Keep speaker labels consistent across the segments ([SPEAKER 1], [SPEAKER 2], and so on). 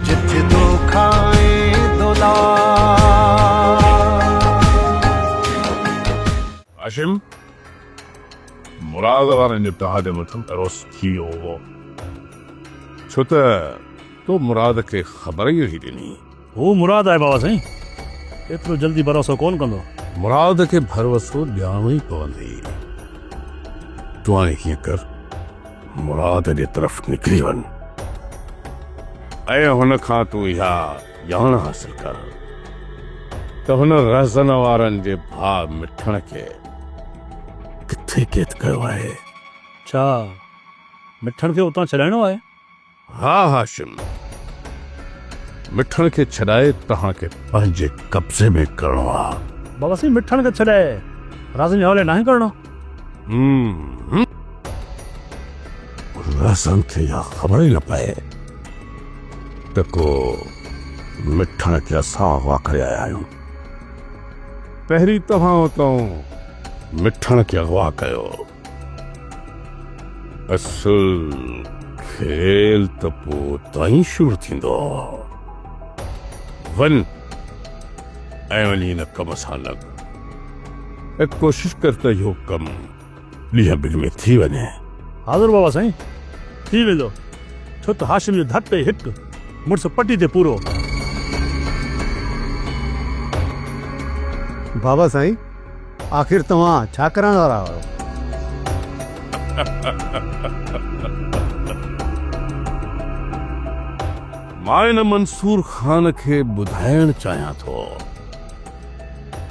[SPEAKER 1] جت دو کائين هاشم مراد وارن جو تهاجو مٿن پروس ٿي ويو هو ڇو ته تو مراد کي خبر ئي نهي ڏني. هو مراد آهي
[SPEAKER 2] بابا سائين ايترو جلدي ڀروسو ڪونه ڪندو. مراد کي
[SPEAKER 1] ڀروسو ڏيارڻو ئي پوندي. تون هاڻي هيئن ڪر. مراد جي طرف نڪري وڃ ۽ هن کان تون اها ڄاڻ حاصل ڪر ته هن رهزن وارن جي ڀاء مٺڻ کي ڪٿي قيد ڪيو آهي؟ ڇا
[SPEAKER 2] مٺڻ کي اتان ڇڏائڻو آهي؟ ها
[SPEAKER 1] هاشم! مٺڻ کي ڇڏائي توهان کي پنهنجي قبضي ۾ ڪرڻو آهي. بابا سائين مٺڻ کي
[SPEAKER 2] ڇڏائي رازن جي حوالي ناهي ڪرڻو.
[SPEAKER 1] هم. رازن کي اها خبر ئي نه پئي ته ڪو مٺڻ کي اسان اغوا ڪري آيا آهيون. پهرين توهان اتان مٺڻ کي اغوا ڪيو. اصل کيل ته پوء تائين شروع ٿيندو ون ۽ وڃي هن ڪم سان لڳ ۽ ڪوشش ڪر ته اهو ڪم ڏينهن ٻن ۾ ٿي وڃي حاضر بابا
[SPEAKER 2] سائين ٿي ويندو ڇو ته هاشم جو ڌٽ ۽ هٽ مڙس پٽي تي پورو.
[SPEAKER 3] بابا سائين آخر توهان ڇا ڪرڻ وارا آهيو؟
[SPEAKER 1] مان هن منصور خان کي ٻڌائڻ چاهيان ٿو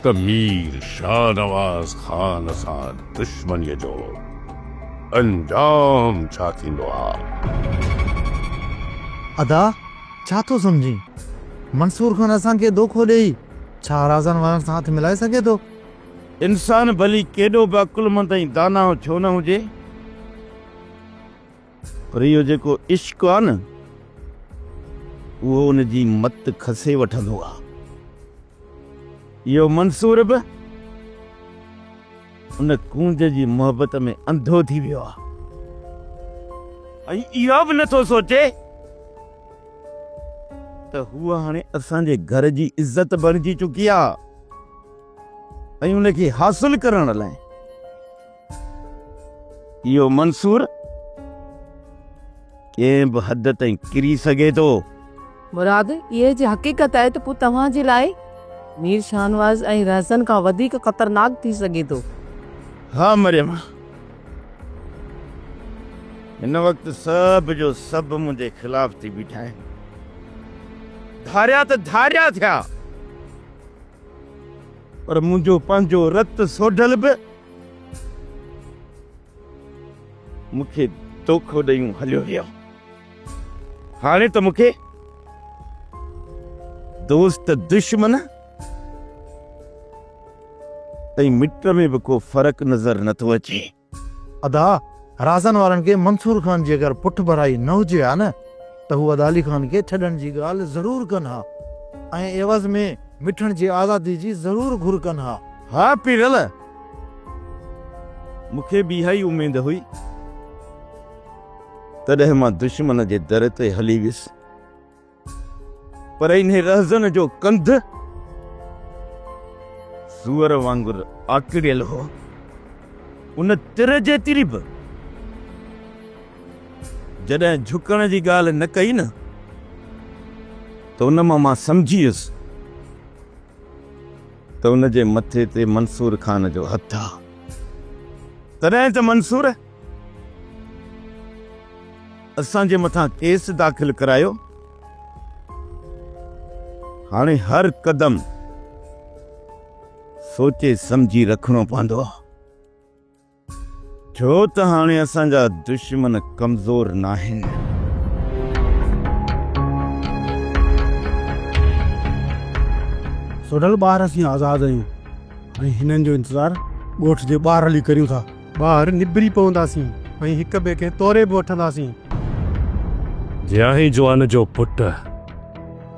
[SPEAKER 1] ته مير شاهنواز خان سان دشمنيء جو انجام ڇا ٿيندو آ.
[SPEAKER 3] ادا ڇا ٿو سمجهين منصور خان اسان کي دوکو ڏئي ڇا رازن وارن سان هٿ ملائي سگهي ٿو؟ انسان
[SPEAKER 4] ڀلي ڪيڏو به عقلمند ۽ داناء ڇو نه هجي، پر اهو جيڪو عشق آهي نه، اهو ان جي مت کسي وٺندو آهي. اهو منصور به ان ڪونج جي محبت ۾ انڌو ٿي ويو آهي ۽ اهو به نٿو سوچي، ته هوء هاڻي اسان جي گهر جي عزت بڻجي چڪي آهي ۽ ان کي حاصل ڪرڻ لاء اهو منصور ڪنهن به حد تائين ڪري سگهي ٿو. مراد،
[SPEAKER 5] اهي جي حقيقت آهي ته پوء توهان جي لاء مير شاهنواز ۽ رهزن کان وڌيڪ خطرناڪ ٿي سگهي ٿو. ها
[SPEAKER 4] مريم! هن وقت سڀ جو سڀ منهنجي خلاف ٿي بيٺا آهن. ڌاريا ته ڌاريا ٿيا پر منهنجو پنهنجو رت سوڍل به مون کي دوکو ڏيون هليو ويو. هاڻي ته مون کي دوست دشمن ۽ مٽ ۾ به ڪو فرق نظر نه ٿو اچي. ادا
[SPEAKER 3] رازن وارن کي منصور خان جي اگر پٺڀرائي نه هجي ها نه ته هو ادا علي خان کي ڇڏڻ جي ڳالهه ضرور ڪن ها ۽ عيوض ۾ مٺڻ جي آزادي جي ضرور گهر ڪن ها. ها پيرل!
[SPEAKER 4] مون کي به اها ئي اميد هئي. تڏهن مان دشمن جي در تي هلي ويس. پر انهي رهزن جو ڪنڌ سوئر وانگر آڪڙيل هو. ان تر جيتري به جڏهن جهڪڻ جي ڳالهه نه ڪئي نه ته ان مان مان سمجهي ويس ته ان جي مٿي تي منصور خان جو هٿ آ. تڏهن ته منصور اسان جي مٿان ڪيس داخل ڪرايو هاڻي هر قدم سوچي سمجهي رکڻو پوندو ڇو ته هاڻي اسان جا دشمن ڪمزور ناهن
[SPEAKER 6] سوڍل ٻار اسين آزاد آهيون ۽ هنن جو انتظار ڳوٺ جي ٻاهر هلي ڪريون ٿا. ٻاهر نبري پونداسين ۽ هڪ ٻئي کي توري به وٺنداسين.
[SPEAKER 7] جيائين جوان جو پٽ،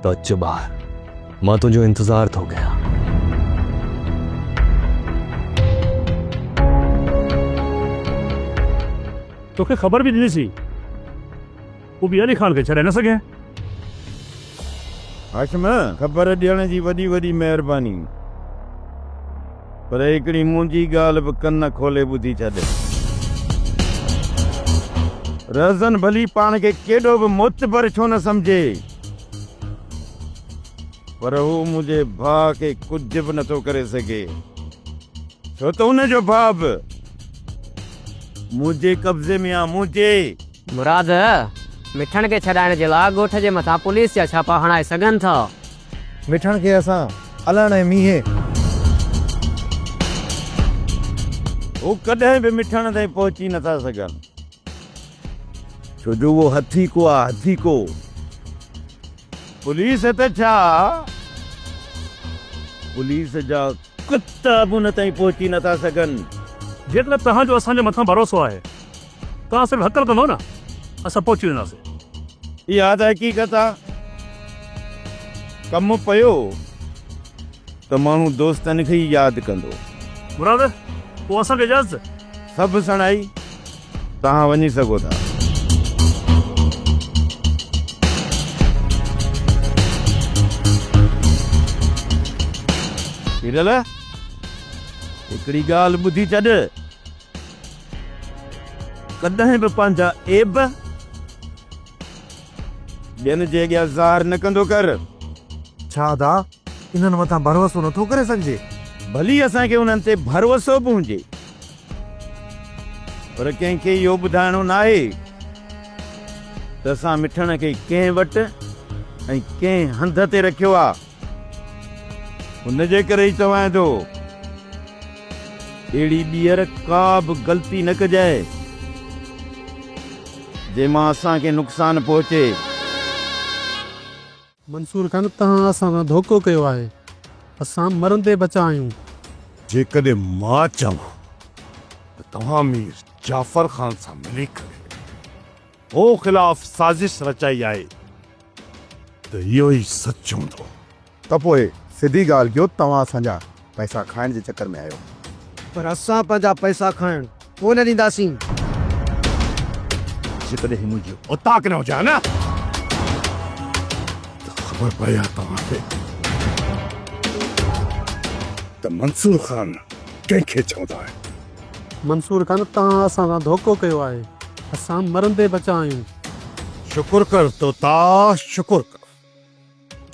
[SPEAKER 7] ته اچ ٻاهر، مان تنهنجو انتظار ٿو ڪيان.
[SPEAKER 2] توکي خبر به ڏنيسين. ڪو به علي خان کي ڇڏائي نه سگهي.
[SPEAKER 4] هاشم! خبر ڏيڻ جي وڏي وڏي مهرباني. پر هڪڙي منهنجي ڳالهه به ڪن کولي ٻڌي ڇڏ. رهزن ڀلي پاڻ کي ڪيڏو به معتبر ڇو نه سمجهي، پر هو منهنجي ڀاء کي ڪجهه به نٿو ڪري سگهي، ڇو ته ان جو ڀاء به منهنجي قبضي ۾ آ، منهنجي! مراد،
[SPEAKER 8] مٺڻ کي ڇڏائڻ جي لاء ڳوٺ جي مٿان پوليس جا ڇاپا هڻائي سگهن ٿا. مٺڻ کي
[SPEAKER 3] اسان الڻ ۽ مينهين.
[SPEAKER 4] هو ڪڏهن به مٺڻ تائين پهچي نه ٿا سگهن. ڇو جو اهو هٿي ڪو آ هٿي ڪو. پوليس ته ڇا پوليس جا ڪتا به ان تائين پهچي نه ٿا سگهن. جيڪڏهن توهان
[SPEAKER 2] جو اسان جي مٿان ڀروسو آهي توهان صرف هڪل ڪندو نه اسان پهچي وينداسين. اها ته
[SPEAKER 4] حقيقت آ ڪم پيو ته ماڻهو دوستن کي ئي ياد ڪندو. مراد
[SPEAKER 2] پوء اسان کي اجازت. سڀ سڻائي
[SPEAKER 4] توهان وڃي سگهو ٿا. پيرل هڪڙي ڳالهه ٻڌي ڇڏ. ڪڏهن به پنهنجا عيب ٻين جي اڳيان ظاهر نه ڪندو ڪر. ڇا
[SPEAKER 3] ادا انهن مٿان ڀروسو نه ٿو ڪري سگهجي؟ ڀلي اسان کي
[SPEAKER 4] انهن تي ڀروسو به هجي پر ڪنهن کي اهو ٻڌائڻو ناهي ته اسان مٺڻ کي ڪنهن وٽ ۽ ڪنهن هنڌ تي رکيو آهي. ان جي ڪري ئي چوان ٿو، اهڙي ٻيهر ڪا به غلطي نه ڪجي، جنهن مان اسان کي نقصان پهچي.
[SPEAKER 6] منصور خان، توهان اسان سان ڌوڪو ڪيو آهي، اسان مرندي بچا آهيون. جيڪڏهن
[SPEAKER 1] مان چوان ته توهان مير جعفر خان سان ملي ڪري هو خلاف سازش رچائي آهي ته اهو ئي سچ هوندو. ته پوء
[SPEAKER 9] سڌي ڳالهه ڪيو توهان اسان جا پئسا کائڻ جي چڪر ۾ آهيو. پر اسان
[SPEAKER 10] پنهنجا پئسا کائڻ ڪونه ڏينداسين.
[SPEAKER 1] جيڪڏهن هي منهنجي اوطاق نه هجي ها نه ته خبر پئي ها توهان کي ته منصور خان ڪنهن کي چوندا آهن. منصور خان توهان
[SPEAKER 6] اسان سان ڌوڪو ڪيو آهي اسان مرندي بچا آهيون. شڪر
[SPEAKER 1] ڪر طوطا شڪر ڪر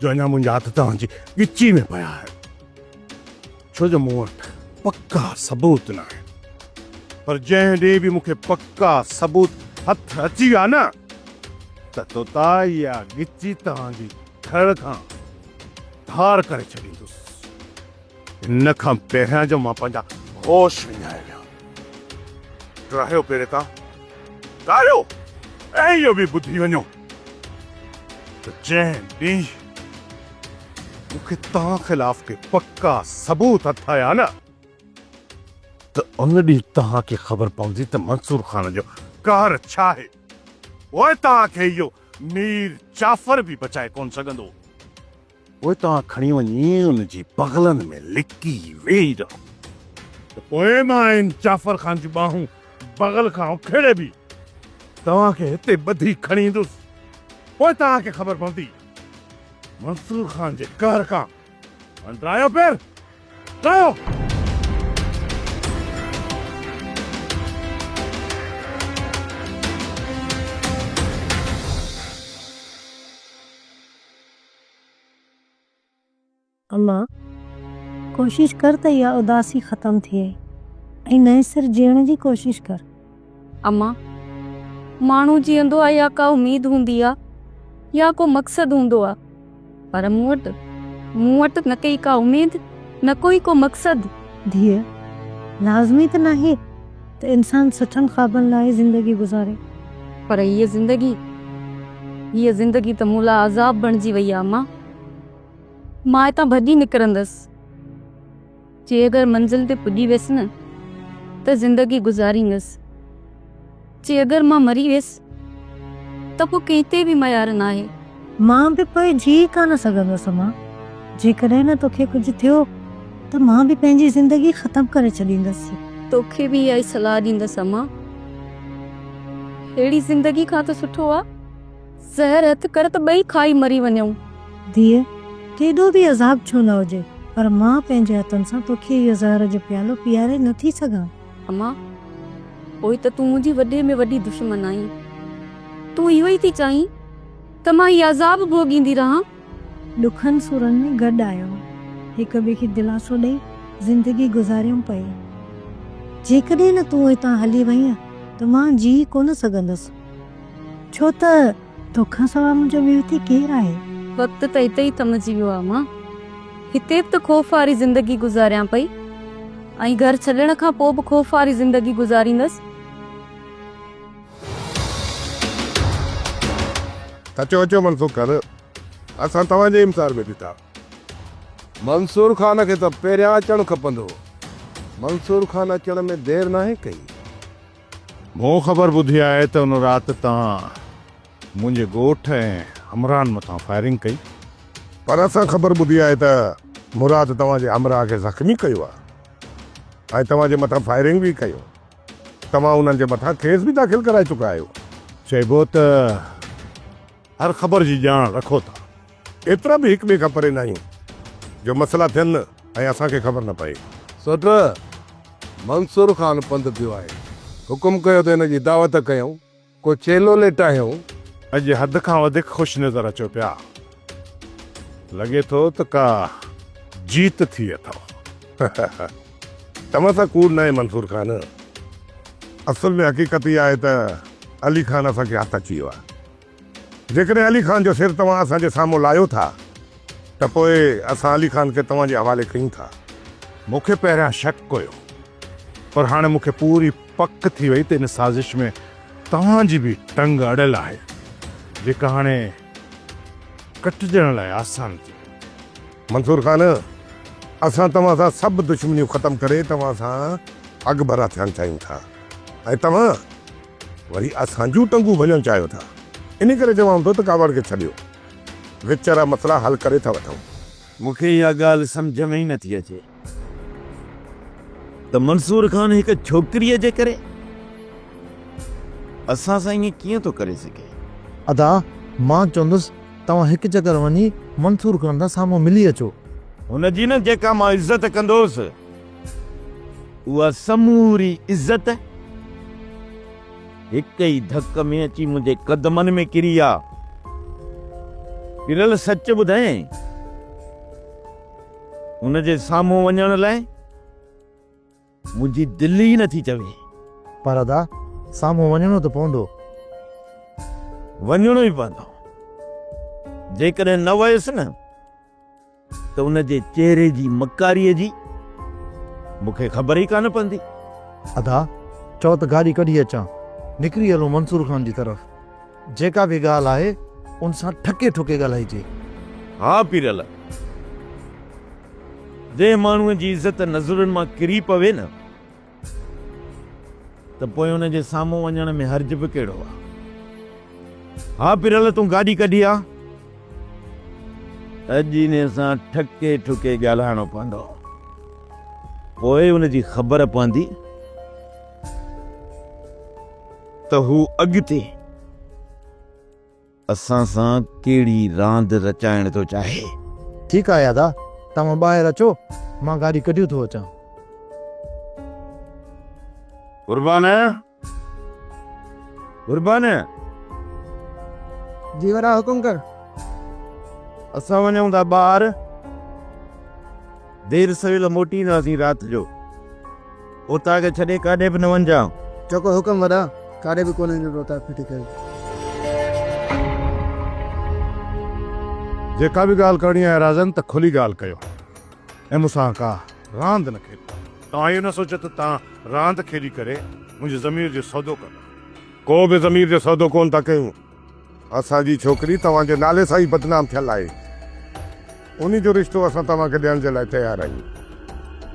[SPEAKER 1] جو اڃا منهنجا هٿ توهان جي ڳچي ۾ پيا آهن ڇو جو مون وٽ پڪا ثبوت نه آهن پر جنهن ڏينهن به مون کي پڪا ثبوت هٿ اچي ويا نه ته طوطا اها ڳچي توهان جي ڌڙ کان ڌار ڪري ڇڏيندس. ان کان پهريان جو مان پنهنجا هوش وڃائي ويا رهيو پهرين تان ڪاريو ۽ اهو به ٻڌي وڃو ته جنهن ڏينهن مون کي توهان خلاف ڪي پڪا ثبوت هٿ آيا نه ته ان ڏينهن توهان کي خبر پوندي ته منصور خان جو قهر ڇا آهي پوء توهان کي اهو مير جعفر به بچائي ڪونه سگهندو. پوء توهان کڻي وڃي ان جي بغلن ۾ لڪي ويهي رهو. ته پوء مان ان جعفر خان جون ٻانهون بغل کان اکيڙي به توهان کي هتي ٻڌي کڻي ايندس. پوء توهان کي خبر پوندي. منصور خان جي قهر کان هنڊرايو پير ٽايو.
[SPEAKER 11] اما! ڪوشش ڪر ته اها اداسي ختم ٿئي ۽ نئين سر جيئڻ جي ڪوشش ڪر. اما!
[SPEAKER 5] ماڻهو جيئندو آهي يا ڪا اميد هوندي آهي يا ڪو مقصد هوندو آهي پر مون وٽ، مون وٽ نه ڪي ڪا اميد نه ڪو ئي ڪو مقصد. ڌيء!
[SPEAKER 11] لازمي ته ناهي. ته انسان سٺن خوابن لاء زندگي گذاري. پر هيء
[SPEAKER 5] زندگي، هيء زندگي ته مون لاء عذاب بڻجي وئي آ امان. مان هتان ڀڄي نڪرندس. جي اگر منزل تي پڄي ويس نه ته زندگي گذاريندس. جي اگر مان مري ويس ته پوء ڪنهن تي به ميار ناهي. مان به پوء
[SPEAKER 11] جيئي ڪانه سگهندس امان. جيڪڏهن نه توکي ڪجهه ٿيو ته مان به پنهنجي زندگي ختم ڪري ڇڏيندس. توکي به اها ئي
[SPEAKER 5] صلاح ڏيندس امان. ههڙي زندگي کان ته سٺو آ زهر هٿ
[SPEAKER 11] ڪر ته
[SPEAKER 5] ٻئي
[SPEAKER 11] کائي
[SPEAKER 5] مري وڃون.
[SPEAKER 11] ڌيء،
[SPEAKER 5] ڪيڏو به
[SPEAKER 11] عذاب
[SPEAKER 5] ڇو
[SPEAKER 11] نه هجي
[SPEAKER 5] پر
[SPEAKER 11] مان پنهنجي هٿن سان توکي اهو زهر جو پيالو پياري نه ٿي سگهان. اما،
[SPEAKER 5] پوء ته تون منهنجي وڏي ۾ وڏي دشمن آهين. تون اهو ئي ٿي چاهين ته مان هي عذاب ڀوڳيندي رهان. ڏکن
[SPEAKER 11] سورن ۾ گڏ آيو، هڪ ٻئي کي دلاسو ڏئي زندگي گذاريم پئي. جيڪڏهن نه تون هتان هلي وئينء ته مان جيئي ڪونه سگهندس. ڇو ته. تو کان سواء منهنجو ٻيو هتي ڪير آهي؟ وقت ته هتي ئي
[SPEAKER 5] ٿمجي ويو آهي مان هتي به ته خوف واري زندگي گذاريان پئي ۽ گهر ڇڏڻ کان پوء به خوف واري زندگي گذاريندس.
[SPEAKER 1] اچو اچو منصور خان اسان توهان جي امسار ۾ ڏٺا. منصور خان کي ته پهريان اچڻ کپندو هو. منصور خان اچڻ ۾ دير ناهي ڪئي.
[SPEAKER 4] مون خبر ٻڌي آهي ته ان رات توهان منهنجي ڳوٺ ۽ همراهن مٿان فائرنگ ڪئي. پر اسان
[SPEAKER 1] خبر ٻڌي آهي ته مراد توهان جي همراهه کي زخمي ڪيو آهي ۽ توهان جي مٿان فائرنگ به ڪيو. توهان انهن جي مٿان ڪيس به داخل ڪرائي چڪا آهيو. چئبو ته
[SPEAKER 4] هر خبر جي ڄاڻ رکو ٿا. ايترا به هڪ
[SPEAKER 1] ٻئي کان پري ناهيون جو مسئلا ٿين ۽ اسان کي خبر نه پئي. سؤٽ
[SPEAKER 12] منصور خان پنڌ پيو آهي. حڪم ڪيو ته هن جي دعوت ڪيائون. ڪو چيلو ليٽايائون. اڄ حد
[SPEAKER 4] کان وڌيڪ خوش نظر اچو پيا. لڳي ٿو ته ڪا جيت ٿي اٿئو.
[SPEAKER 1] توهان سان ڪوڙ ناهي منصور خان. اصل ۾ حقيقت اها آهي ته علي خان اسان کي هٿ اچي ويو آهي. جيڪڏهن علي خان جو سر توهان اسان جي سامهون لاهيو ٿا ته پوء اسان علي خان کي توهان جي حوالي ڪيون ٿا. مون کي
[SPEAKER 4] پهريان شڪ هيو پر هاڻي مون کي پوري پڪ ٿي وئي ته ان سازش ۾ توهان جي به ٽنگ اڙيل آهي جيڪا هاڻي ڪٽجڻ لاء آسان ٿي. منصور
[SPEAKER 1] خان، اسان توهان سان سڀ دشمنيون ختم ڪري توهان سان اڳڀرا ٿيڻ چاهيون ٿا ۽ توهان وري اسان جون ٽنگون ڀڃڻ چاهيو ٿا. انهي ڪري چوان ٿو ته ڪاوڙ کي ڇڏيو، وچ وارا مسئلا حل ڪري ٿا وٺون. مون کي اها
[SPEAKER 4] ڳالهه سمجهه ۾ ئي نٿي اچي. ته منصور خان هڪ ڇوڪريء جي ڪري اسان سان ائين ڪيئن ٿو ڪري سگهي؟ ادا
[SPEAKER 3] مان چوندس توهان هڪ چڪر وڃي منصور خان سان سامهون ملي اچو. هن جي نه
[SPEAKER 4] جيڪا مان عزت ڪندوس اها سموري عزت هڪ ئي ڌڪ ۾ اچي منهنجي قدمن ۾ ڪري آ. پرل سچ ٻڌايائين. هن جي سامهون وڃڻ لاء منهنجي دل ئي نٿي چوي. پر ادا
[SPEAKER 3] سامهون وڃڻو ته پوندو. وڃڻو
[SPEAKER 4] ئي پوندو. جيڪڏهن نه ويس نه ته ان جي چهري جي مڪاريء جي مون کي خبر ئي ڪانه پوندي. ادا
[SPEAKER 3] چئو ته گاڏي ڪڍي اچان. نڪري هلون منصور خان جي طرف. جيڪا به ڳالهه آهي ان سان ٺڪي ٺڪي ڳالهائجي. ها
[SPEAKER 4] پيرل! جنهن ماڻهوء جي عزت نظرن مان ڪري پوي نه ته پوء ان جي سامهون وڃڻ ۾ حرج به ڪهڙو آ؟ ها پيرل تون گاڏي ڪڍي آ. اڄ ان سان ٺڪي ٺڪي ڳالهائڻو پوندو. پوء ان جي خبر پوندي. ته هو اڳتي اسان سان ڪهڙي راند رچائڻ ٿو چاهي. ٺيڪ آهي ادا،
[SPEAKER 3] توهان ٻاهر اچو، مان گاڏي ڪڍيو ٿو اچان.
[SPEAKER 4] قربان! قربان!
[SPEAKER 10] جي وڏا حڪم ڪر.
[SPEAKER 4] اسان وڃون ٿا ٻاهر. دير سويل موٽي اينداسين رات جو. اوطاق کي ڇڏي ڪاڏي به نه وڃجان. جيڪو حڪم وڏا،
[SPEAKER 10] ڪاڏي به ڪونه ايندس اوطاق ڦٽي ڪري.
[SPEAKER 1] جيڪا به ڳالهه ڪرڻي آهي رازن ته کلي ڳالهه ڪيو ۽ مون سان ڪا راند نه کيڏيو. توهان اهو نه سوچيو ته توهان راند کيڏي ڪري منهنجي ضمير جو سودو ڪندا. ڪو به ضمير جو سودو ڪونه ٿا ڪيون. اسان جي ڇوڪري توهان جي نالي سان ئي بدنام ٿيل آهي. ان جو رشتو اسان توهان کي ڏيڻ جي لاء تيار آهيون.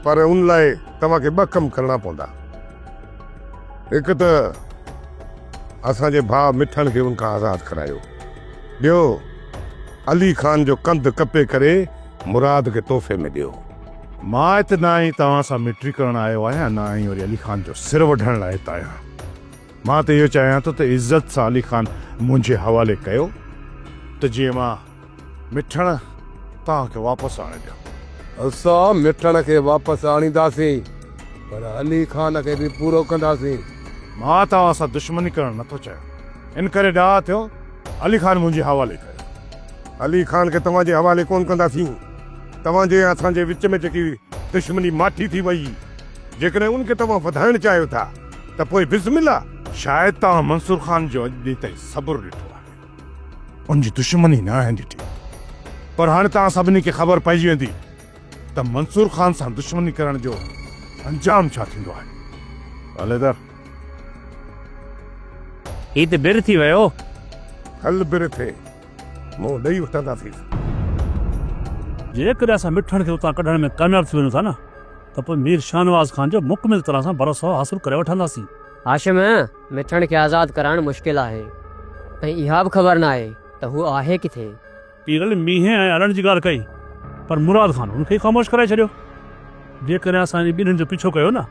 [SPEAKER 1] پر ان لاء توهان کي ٻه ڪم ڪرڻا پوندا. هڪ ته اسان جي ڀاء مٺڻ کي ان کان آزاد ڪرايو. ٻيو علي خان جو ڪنڌ ڪپي ڪري مراد کي تحفي ۾ ڏيو. مان هت
[SPEAKER 4] نه ئي توهان سان مٽري ڪرڻ آيو آهيان نه ئي وري علي خان جو سر وڍڻ لاء هت آهيان. مان ته اهو چاهيان ٿو ته عزت سان علي خان منهنجي حوالي ڪيو ته جيئن مان مٺڻ توهان کي واپس آڻي ڏيان.
[SPEAKER 12] اسان مٺڻ کي واپس آڻينداسين پر علي خان کي به پورو ڪنداسين. مان توهان
[SPEAKER 4] سان دشمني ڪرڻ نه ٿو چاهيان ان ڪري ڏاها ٿيو علي خان منهنجي حوالي ڪيو. علي خان کي توهان
[SPEAKER 12] جي حوالي ڪونه ڪنداسين. توهان جي ۽ اسان جي وچ ۾ جيڪي دشمني ماٺي ٿي وئي جيڪڏهن ان کي توهان وڌائڻ چاهيو ٿا. ته پوء بسم الله! شايد توهان
[SPEAKER 4] منصور خان جو اڄ ڏينهن تائين صبر ڏٺو آهي، ان جي دشمني ناهي ڏٺي، پر هاڻي توهان سڀني کي خبر پئجي ويندي ته منصور خان سان دشمني ڪرڻ جو انجام ڇا ٿيندو آهي. علحده!
[SPEAKER 2] هي ته بر ٿي ويو. کل
[SPEAKER 12] بر ٿي، منهن ڏئي وٺنداسين.
[SPEAKER 2] جيڪڏهن اسان مٺڻ کي اتان ڪڍڻ ۾ ڪامياب ٿي وڃون ٿا نه، ته پوء مير شاهنواز خان جو مڪمل طرح سان ڀروسو حاصل ڪري وٺنداسين. هاشم،
[SPEAKER 8] مٺڻ کي آزاد ڪرائڻ مشڪل آهي ۽ اها به خبر ناهي ته هو آهي ڪٿي؟ پيرل مينهن
[SPEAKER 2] ۽ هلڻ جي ڳالهه ڪئي پر مراد خان هن کي ئي خاموش ڪرائي ڇڏيو. جيڪڏهن اسان انهن ٻنهين جو پيڇو ڪيو نه،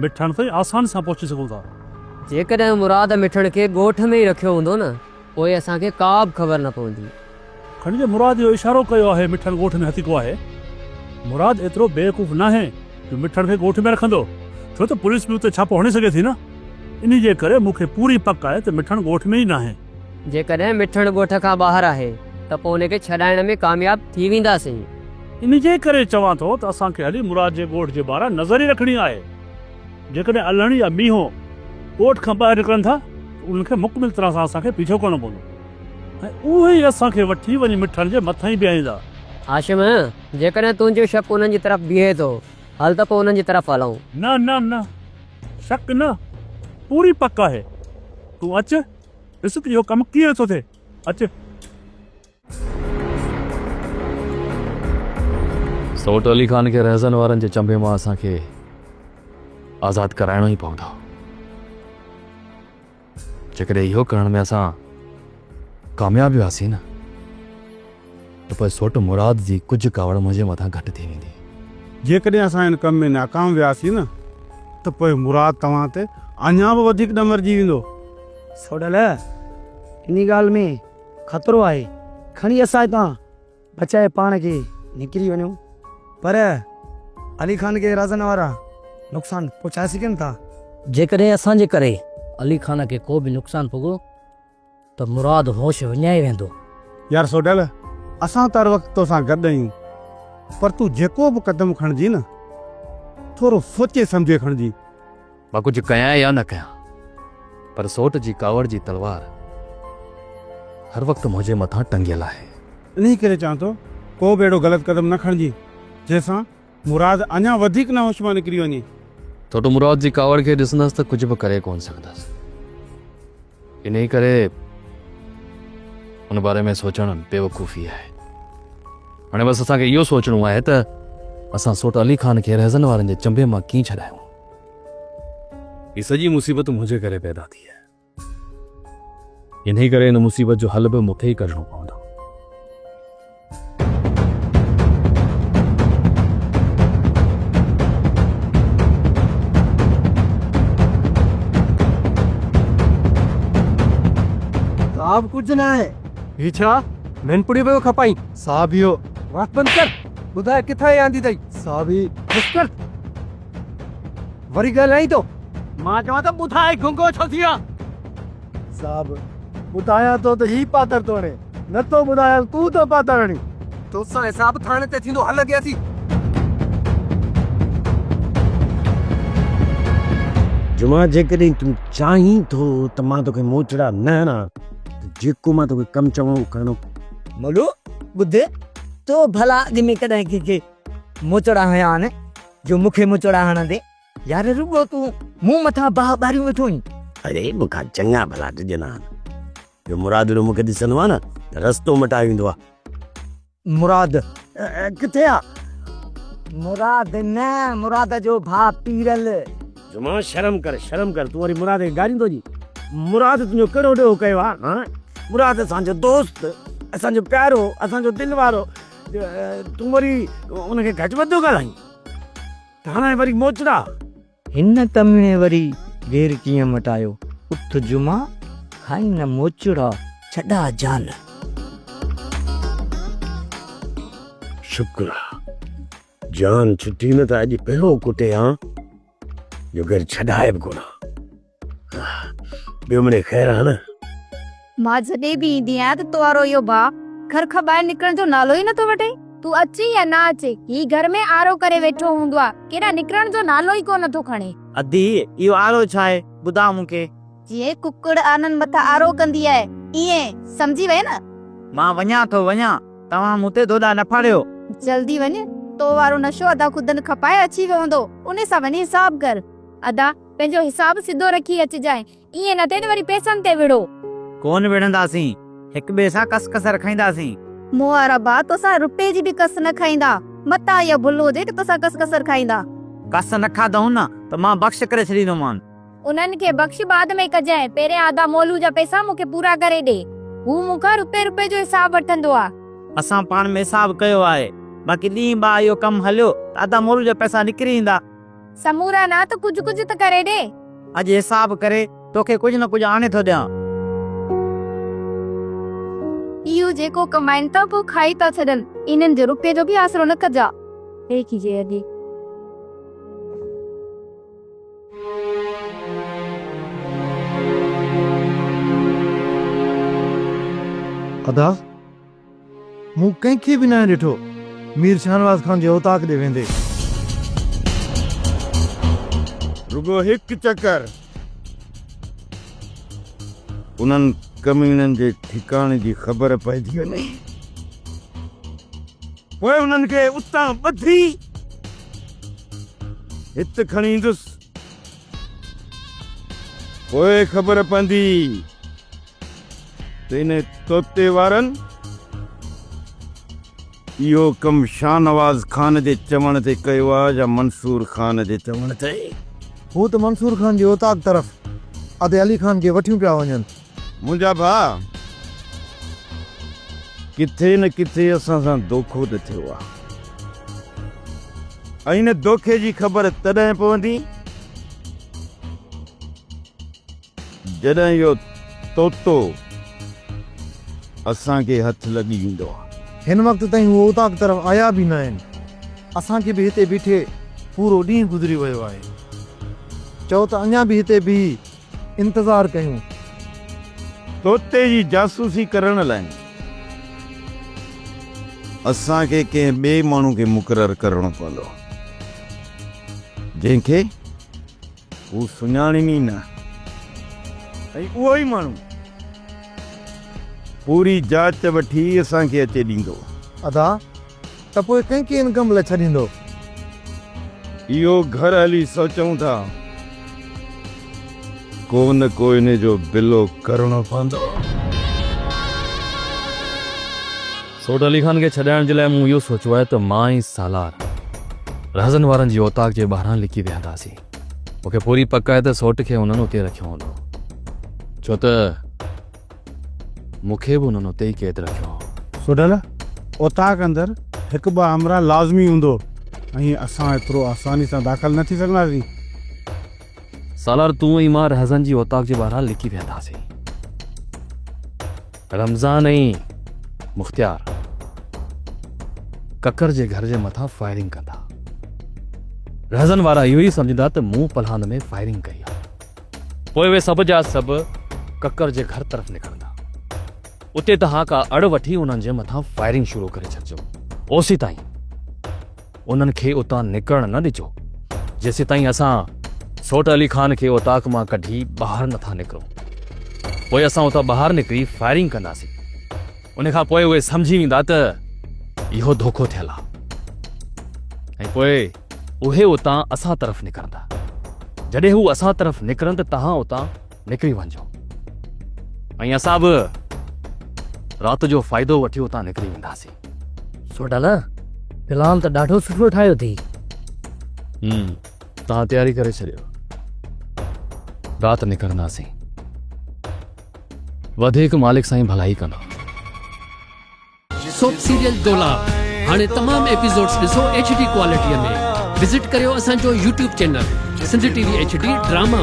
[SPEAKER 2] مٺڻ تائين آساني سان پهچي سگهون ٿا. جيڪڏهن
[SPEAKER 8] مراد مٺڻ کي ڳوٺ ۾ ئي رکيو هوندو نه پوء اسان کي ڪا به خبر نه پوندي. کڻي جي مراد
[SPEAKER 2] اهو اشارو ڪيو آهي مٺڻ ڳوٺ ۾ هتڪو آهي. مراد ايترو بيوقوف ناهي جو مٺڻ کي ڳوٺ ۾ رکندو ڇو ته پوليس به اتي ڇاپو هڻي سگهي ٿي نه. انهي جي ڪري مون کي پوري پڪ آهي ته مٺڻ ڳوٺ ۾ ئي ناهي. جيڪڏهن مٺڻ
[SPEAKER 8] ڳوٺ کان ٻاهر آهي ته پوء ان کي ڇڏائڻ ۾ ڪامياب ٿي وينداسين. انهي جي ڪري
[SPEAKER 2] چوان ٿو ته اسان کي هلي مراد جي ڳوٺ جي ٻاهران نظر ئي رکڻي آهي. جيڪڏهن الهڻ يا مينهو ڳوٺ کان ٻاهر نڪرن ٿا ته انهن کي مڪمل طرح سان اسان کي پيڇو ڪرڻو پوندو ۽ اهي ئي اسان کي وٺي وڃي مٺڻ جي مٿانهين بيهائيندا. هاشم،
[SPEAKER 8] جيڪڏهن تنهنجو شڪ انهن جي طرف بيهي ٿو، هل ته پوء انهن جي طرف هلون. نه نه نه،
[SPEAKER 2] شڪ نه، پوري پڪ آهي. تون اچ، ڏس ته اهو ڪم ڪيئن ٿو ٿئي. اچ!
[SPEAKER 7] سوٽ علي خان کي رهزن وارن جي چنبي مان اسان کي آزاد ڪرائڻو ئي پوندو جيڪڏهن اهو ڪرڻ ۾ اسان ڪامياب وياسين نه ته پوء سوٽ مراد جي ڪجهه ڪاوڙ منهنجي مٿان گهٽ ٿي ويندي جيڪڏهن اسان
[SPEAKER 6] ان ڪم ۾ ناڪام وياسين نه ته پوء مراد توهان تي اڃا به وڌيڪ ڏمرجي ويندو سوٽ علي
[SPEAKER 10] انهي ڳالهه ۾ خطرو آهي کڻي اسان هتان بچائي پاڻ کي نڪري وڃو. پر علي خان کي رازن وارا نقصان پهچائي سگهن ٿا. جيڪڏهن اسان
[SPEAKER 8] جي ڪري علي خان کي ڪو به نقصان پڳو ته مراد هوش وڃائي ويندو. يار سوڍل
[SPEAKER 6] اسان ته هر وقت توسان گڏ آهيون پر تون جيڪو به قدم کڻجين ٿورو سوچي سمجهي کڻجين. مان ڪجهه
[SPEAKER 7] ڪيان يا نه ڪيان پر سوٽ جي ڪاوڙ جي تلوار هر وقت منهنجي مٿان ٽنگيل آهي. انهي ڪري چوان
[SPEAKER 6] ٿو ڪو به اهڙو غلط قدم نه کڻجين جنهن سان مراد اڃا وڌيڪ نه هوش مان نڪري وڃي. سوٽ مراد
[SPEAKER 7] جي ڪاوڙ کي ڏسندس ته ڪجهه به ڪري ڪونه سگهندس انهي ڪري ان باري ۾ سوچڻ بيوقوفي آهي. هاڻي بس اسان کي اهو سوچڻو آهي ته اسان سوٽ علي خان کي رهزن وارن جي چنبي مان ڪيئن ڇڏايون. هي سڄي مصيبت منهنجي ڪري پيدا ٿي آهي. انهي ڪري هن مصيبت جو حل به مون کي ئي ڪڍڻو پوندو.
[SPEAKER 10] صاحب ڪجهه نه آهي. هي ڇا ننپڙيو پيو کپائين؟ صاحب اهو. وات بند ڪر. ٻڌاء ڪٿان هي آندي اٿئي؟ صاحب هي. بس ڪر. وري ڳالهائين ٿو؟ مان چوان ته ٻڌاء گنگو ڇو ٿي آن؟ صاحب ٻڌايان ٿو ته هي پاتر ٿو هڻي. نه ٿو ٻڌايان تون ٿو پاتر هڻين. تو سان حساب ٿاڻي تي ٿيندو هل اڳيان ٿي.
[SPEAKER 13] جمعا جيڪڏهن تون چاهين ٿو ته مان توکي موچڙا نه هڻان ته جيڪو مان توکي ڪم چوان اهو ڪرڻو. مولو
[SPEAKER 10] ٻڌ تو ڀلا اڳ ۾ ڪڏهن ڪنهن کي موچڙا هنيا آن؟ جو مون کي مچوڙا هڻندين. يار رڳو تون مون مٿان باهه ٻاريون ويٺو آهين. اڙي مون کان
[SPEAKER 13] چڱا ڀلا ڊڄندا آهن. جو مرادڙو مون کي ڏسندو آهي نه ته رستو مٽائي ويندو آهي. مراد
[SPEAKER 10] ڪٿي آ؟ مراد نه مراد جو ڀاء پيرل. جمعه
[SPEAKER 13] شرم ڪر شرم ڪر تون وري مراد کي گاريون ٿو ڏين. مراد تنهنجو ڪهڙو ڏوهه ڪيو آ هان. مراد اسان جو دوست اسان جو پيارو اسان جو دل وارو. تون وري ان کي گهٽ وڌ ٿو ڳالهائين ته هاڻ وري موچڙا. هن
[SPEAKER 10] ڪميڻي وري گير ڪيئن مٽايو. اٿ جمعا کائين نه موچڙا. ڇڏاء جان.
[SPEAKER 1] شڪر آ
[SPEAKER 13] جان ڇٽي نه ته اڄ پهرو ڪٽي هان جو گهر ڇڏائي به ڪونه ها. ٻيو منهنجي خير آهي نه. مان
[SPEAKER 5] جڏهن به ايندي آهيان ته تو وارو اهو ڀاء گهر کان ٻاهر نڪرڻ جو نالو ئي نٿو وٺي. تون اچين يا نه اچين هي گهر ۾ آرو ڪري ويٺو هوندو آهي ڪيڏانهن نڪرڻ جو نالو ئي ڪو نٿو کڻي. ادي اهو
[SPEAKER 10] آرو ڇا آهي ٻڌاء مون کي. جيئن ڪڪڙ
[SPEAKER 5] آنن مٿان آرو ڪندي آهي ايئن سمجهي وئين نه. مان وڃان ٿو
[SPEAKER 10] وڃان توهان مون تي دوڏا نه ڦاڙيو. جلدي وڃ
[SPEAKER 5] تو وارو نشو ادا خدن کپائي اچي ويو هوندو انهي سان وڃي حساب ڪر. ادا. پنهنجو حساب سڌو رکي اچجانء. ائين نه ٿئي ته وري پئسن تي وڙهو. ڪونه
[SPEAKER 10] وڙهنداسين. هڪ ٻئي سان ڪس ڪس رکائينداسين. محاربا،
[SPEAKER 5] توسان رپئي جي به ڪس نه کائيندا. متان اها ڀل هجي ته توسان ڪس ڪس رکائيندا. ڪس نه کاڌئون
[SPEAKER 10] نه ته مان بخش ڪري ڇڏيندومان. انهن کي
[SPEAKER 5] بخش بعد ۾ ڪجانء. پهرين آڌا مولو جا پئسا مون کي پورا ڪري ڏي. هو مون کان رپئي رپئي جو حساب وٺندو آ. اسان پاڻ ۾
[SPEAKER 10] حساب ڪيو آهي. باقي ڏينهن ٻه اهو ڪم هليو ته آڌا مولو جا پئسا نڪري ايندا. سمورا نه
[SPEAKER 5] ته ڪجهه ڪجهه ته ڪري ڏي. اڄ حساب
[SPEAKER 10] ڪري توکي ڪجهه نه ڪجهه آڻي ٿو ڏيان. اهو
[SPEAKER 5] جيڪو ڪمائين ٿا پوء کائي ٿا ڇڏن. انهن جو روپيي جو به آسرو نه ڪجاء. هيڪي جي اڳي. ادا!
[SPEAKER 3] مون ڪنهن کي به ناهي ڏٺو. مير شاهنواز خان جي اوطاق ڏي ويندي.
[SPEAKER 12] رڳو هڪ چڪر. انهن ڪميڻن جي ٺڪاڻي جي خبر پئجي وڃي. پوء انهن کي اتان ٻڌي هت کڻي ايندس. پوء خبر پوندي. ته انهيء طوطي وارن اهو ڪم شاهنواز خان جي چوڻ تي ڪيو آهي يا منصور خان جي چوڻ تي؟ هو ته
[SPEAKER 3] منصور خان جي اوطاق طرف ادي علي خان کي وٺيون پيا وڃن. منهنجا ڀاء!
[SPEAKER 12] ڪٿي نه ڪٿي اسان سان دوکو ته ٿيو آهي ۽ ان دوکي جي خبر تڏهن پوندي، جڏهن اهو طوطو اسان کي هٿ لڳي ويندو آهي. هن وقت تائين
[SPEAKER 3] هو اوطاق طرف آيا به ناهن. اسان کي به هتي بيٺي پورو ڏينهن گذري ويو آهي. چئو ته اڃا به هتي بيهي انتظار ڪيون.
[SPEAKER 12] طوطي جي جاسوسي ڪرڻ لاء اسان کي ڪنهن ٻئي ماڻهو کي مقرر ڪرڻو پوندو جنهن کي. هو سڃاڻين ئي نه ۽ اهو ئي ماڻهو پوري جاچ وٺي اسان کي اچي ڏيندو. ادا
[SPEAKER 3] ته پوء ڪنهن کي ان ڪم لاء ڇڏيندو؟
[SPEAKER 12] اهو گهر هلي سوچون ٿا. ڪو نه ڪو انهي جو بلو ڪرڻو پوندو.
[SPEAKER 7] سوڍ علي خان کي ڇڏائڻ جي لاء مون اهو سوچيو آهي ته مان ۽ سالار رهزن وارن جي اوطاق جي ٻاهران لڪي ويهنداسين. مون کي پوري پڪ آهي ته سوٽ کي انهن اتي رکيو هوندو، ڇو ته مون کي به انهن اتي ئي قيد رکيو هو. سوڍل،
[SPEAKER 6] اوطاق اندر هڪ ٻه همراهه لازمي هوندو ۽ اسان ايترو آساني سان داخل نه ٿي سگهنداسين.
[SPEAKER 7] سالار تون ۽ مان رهزن جي اوطاق جي ٻاهران لڪي ويهنداسين. رمضان ۽ مختيار ڪڪر جي گهر جي مٿان فائرنگ ڪندا. رهزن وارا اهو ئي سمجهندا ته مون پلهان ۾ فائرنگ ڪئي آهي. پوء اهي سڀ جا سڀ ڪڪر جي گهر طرف نڪرندا. اتي توهان ڪا اڙ وٺي انهن جي مٿان فائرنگ شروع ڪري ڇڏجو. اوسيتائين. انهن کي اتان نڪرڻ نه ڏجو جيسيتائين اسان سوٽ علي خان کي اوطاق مان ڪڍي ٻاهر نٿا نڪرون پوء اسان اتان ٻاهر نڪري فائرنگ ڪنداسين ان کان پوء اهي سمجهي ويندا ته اهو ڌوڪو ٿيل آهي ۽ پوء اهي اتان اسان طرف نڪرندا جڏهن هو اسان طرف نڪرن ته توهان اتان نڪري وڃجو ۽ اسان به رات جو فائدو وٺي اتان نڪري وينداسين سوڍا نه
[SPEAKER 8] پلان ته ڏاڍو سٺو ٺاهيو ٿي هم
[SPEAKER 7] تان تياري ڪري ڇڏيو رات نڪرنداسين وڌيڪ مالڪ سائين ڀلائي ڪندو
[SPEAKER 14] سوپ سيريل دولا هاڻي تمام ايپيسوڊز ڏسو ايچ ڊي ڪوالٽي ۾ وزٽ ڪريو اسان جو YouTube channel Sindh T V H D drama